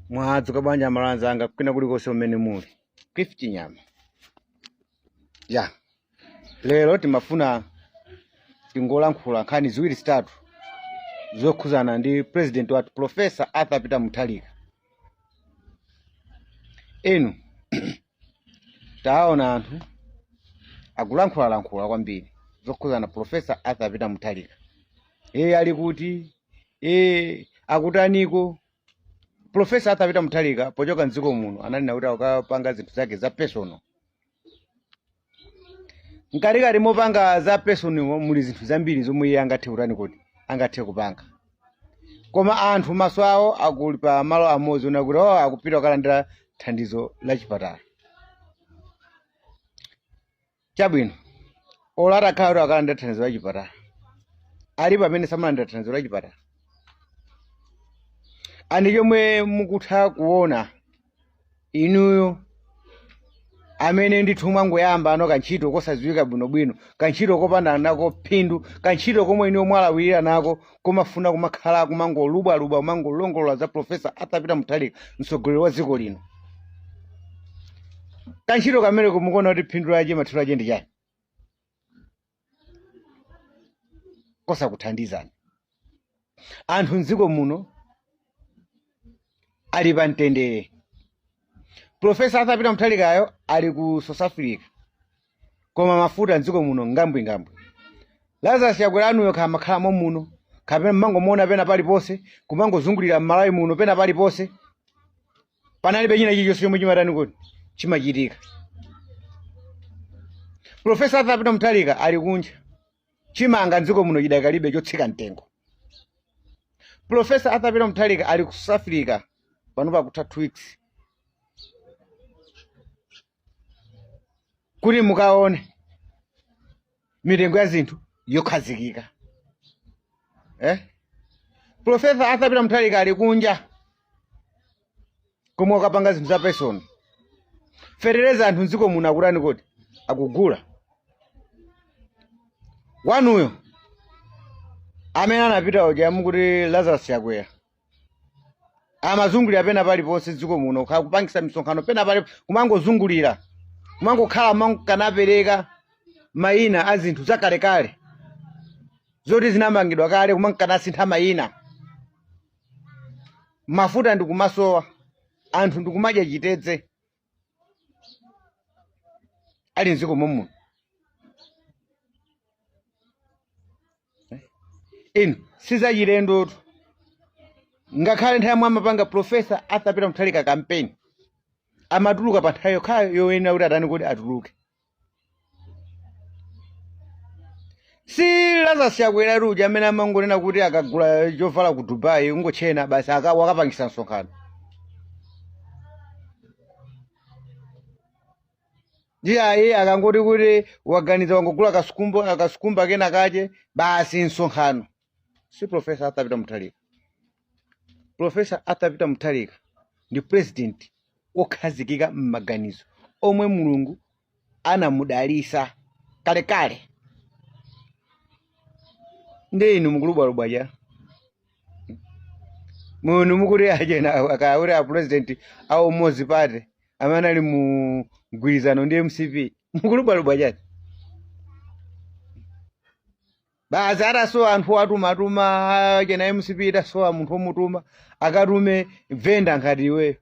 mwadzuka bwanji amalawi anzanga kwina kulikonse umene muli cliff chinyama ya lero timafuna tingolankhula nkhani ziwiri zitatu zokhuzana ndi president wathu profesa arthur peter mutharika inu taona anthu akulankhulalankhula kwambiri zokhuzana profesa arthur peter mutharika iye ali kuti iye akutaniko profesa arthur peter mutharika pochoka mdziko muno ananena kuti akukapanga zinthu zake za personal mkatikati mopanga za personal muli zinthu zambiri zomwe iye angathe kutani kodi angathe kupanga koma anthu maso awo akhala pa malo amodzi onena kuti oh, akupita kukalandira thandizo la chipatala chabwino olo atakhala kuti akalandira thandizo la chipatala alipo amene samalandira thandizo la chipatala ndiye chomwe mukutha kuona inuyo amene ndithu mwangoyamba ano kantchito kosadziwika bwinobwino kantchito kopanda nako phindu kantchito komwe inuyo mwalawirira nako komafuna kumakhala kumangolubwalubwa kumangolongolola za profesa arthur peter mutharika mtsogoleri wa dziko lino kantchito kamene mukuona kuti phindu lache mathero ache ndi chani kosakuthandizani anthu mdziko muno ali pa mtendere profesa arthur peter mutharikayo ali ku south africa koma mafuta mdziko muno ngambwingambwi lazarus chakwera wanuyo kha amakhala momuno kapena mumangomuona pena paliponse kumangozungulira mmalawi muno pena paliponse panalibe china chilichonse chomwe chimatani kodi chimachitika profesa arthur peter mutharika ali kunja chimanga mdziko muno chidakalibe chotsika mtengo profesa arthur peter mutharika ali ku south africa pano pakutha two weeks kuti mukaone mitengo ya zinthu yokhazikika eh? profesa arthur peter mutharika ali kunja komwe akupanga zinthu za personal fetereza anthu mdziko muno akutani kodi akugula wanuyo amene anapita uja mukuti lazarus chakwera amazungulira pena paliponse mdziko muno kha- kupangisa misonkhano pena pali kumangozungulira kumangokhala kumanka napereka mayina a zinthu zakalekale zoti zinamangidwa kale kumanka nasintha mayina mafuta ndikumasowa anthu ndikumadya chitedze ali mdziko momuno inu sizachilendotu ngakhale nthawi yomwe amapanga profesa arthur peter mutharika kampeni amatuluka pa nthawi yokhayo yoyenera kuti atani kodi atuluke si lazarus chakwera atu uja amene amangonena kuti akagula chovala ku dubai ungotchena basi wakapangisa msonkhano iye ayi akangoti kuti waganiza wangogula kasukumba akasukumba kena kache basi msonkhano si profesa arthur peter mutharika profesa arthur peter mutharika ndi president wokhazikika m'maganizo omwe mulungu anamudalisa kalekale nde inu mukulubwalubwa chani muno mukuti achena akauri a president a umodzi party amene ali mu mgwirizano ndi mcp mukulubwalubwa chani basi atasowa anthu atumatuma achina mcp itasowa munthu omutuma akatume venda ngati iweyo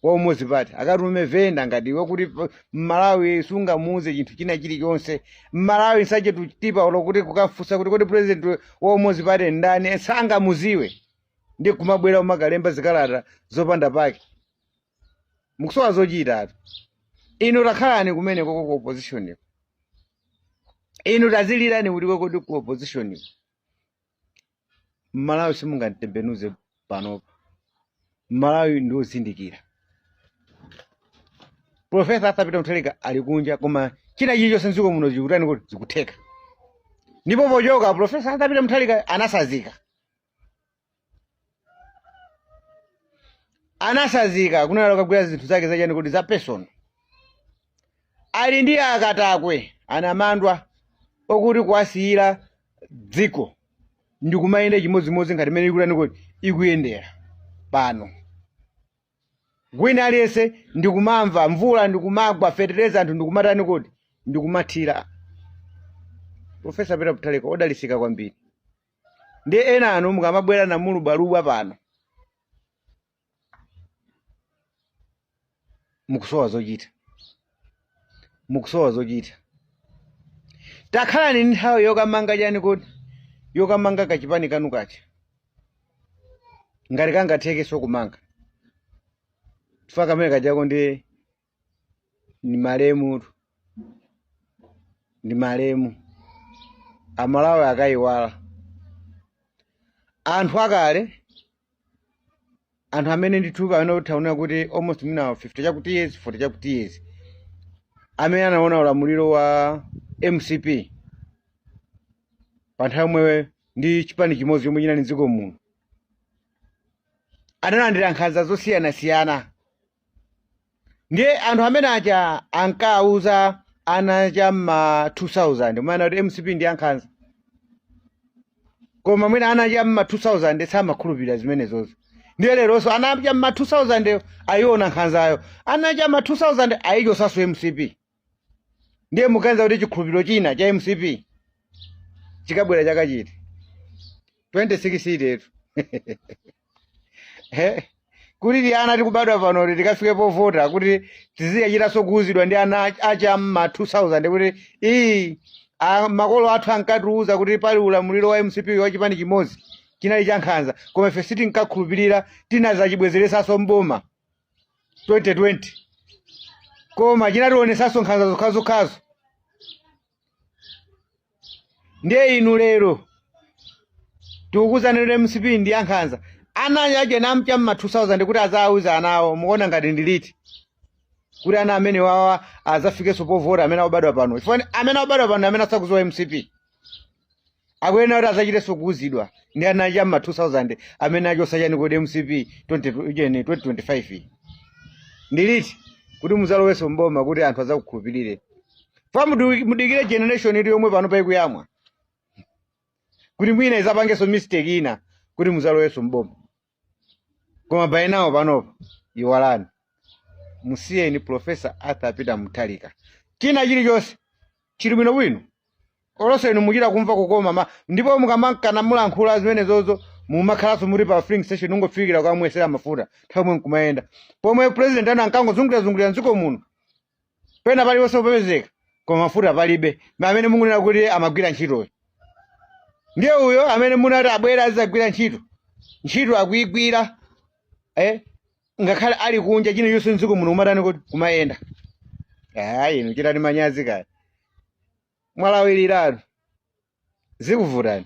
wa umodzi party akatume venda ngati iwe kuti pa- mmalawi sungamuuze chinthu china chilichonse mmalawi nsache tutipa ulo kuti kukafunsa kuti kodi president wa umodzi party ndani sangamuziwe ndi kumabwera umakalemba zikalata zopanda pake mukusowa zochitatu inu takhalani kumene koko ku opposition ko inu tazilirani kuti kokodi ku opposition ko mmalawi simungamtembenuze panopa mmalawi ndi ozindikira profesa arthur peter mutharika ali kunja koma china chilichonse mdziko muno chikutani kodi zikutheka ndipo pochoka profesa arthur peter mutharika anasazika anasazika kuanena akagwira zinthu zake zachani kodi za personal ali ndi akatakwe anamandwa okuti kuwasiyira dziko ndi kumayenda chimodzimodzi ngati mmene ikutani kodi ikuyendera pano mwina aliyense ndikumamva mvula ndikumagwa fetereza anthu ndikumatani kodi ndikumathira profesa peter mutharika odalitsika kwambiri ndiye enanu mukamabwera namalubwalubwa pano mukusowa zochita mukusowa zochita takhalani ndi nthawi yokamanga chani kodi yokamanga kachipani kanu kaja ngati kangathekenso kumanga chifukwa kamene kajako ndi ndi malemutu ndi malemu amalawi akayiwala anthu akale anthu amene ndithu amene utaona kuti almost mwina 50 chakuti years 40 chakuti years amene anaona ulamuliro wa mcp pa nthawi yomwe ndi chipani chimodzi chomwe chinali mdziko muno analandira nkhanza zosiyanasiyana ndiye anthu amenewa aja ankawuza ana cha mma 2000 mwana kuti mcp ndi yankhanza koma mwina ana cha mma 2000 samakhulupirira zimenezo ndiye leronso ana cha mma 2000 ayiona nkhanzayo ana cha mma 2000 ayichosanso mcp ndiye muganiza kuti chikhulupiriro china cha mcp chikabwera chaka chiti 26 itetu Eh, kuti tiana tikubadwa pano kuti tikafike povota kuti tiziyachitanso kuuzidwa ndi ana ach- achi am'ma 2000 kuti ii a- makolo athu ankatiuza kuti pali ulamuliro wa mcp wa chipani chimodzi chinali chankhanza koma ife sitinkakhulupirira tinazachibwezeresanso mboma 2020 koma chinationetsanso nkhanza zokhazokhazo ndiye inu lero tikukuuzani lero mcp ndi ya nkhanza ana a cha mma 2000 kuti azawuza ana awo mukuona ngati ndi liti kuti ana amene wawa azafikenso povota amene obadwa pano chifukwa amene obadwa pano amene asakuziwa mcp akuyenera kuti adzachitenso kuuzidwa ndi ana a cha mma 2000 amene achosa chani kodi mcp 20 ujeni 2025 iyi. ndi liti kuti muzalowenso mboma kuti anthu adzakukhulupirire fa mudu- mudikire generation iti yomwe pano ikuyamwa kuti mwina izapangenso mistake ina kuti muzalowenso mboma koma by now panopa iwalani musiyeni profesa arthur peter mutharika china chilichonse chili bwinobwino olonso inu muchita kumva kukoma ndipo mukamakanamo kulankhula zimenezozo mumakhalanso muri pa filling station ungofikira kumwesera mafuta nthawi yomwe nkumayenda pomwe president anu ankangozungulirazungulira mdziko muno pena paliponse kupezeka koma mafuta palibe amene mukunena kuti amagwira ntchitoyo ndiye uyo amene munati abwera azagwira ntchito ntchito akuigwira eh? ngakhale ali kunja china chilichonse mdziko muno kumatani kodi kumayenda ayi inu chitani manyazi kaya mwalawiliratu zikuvutani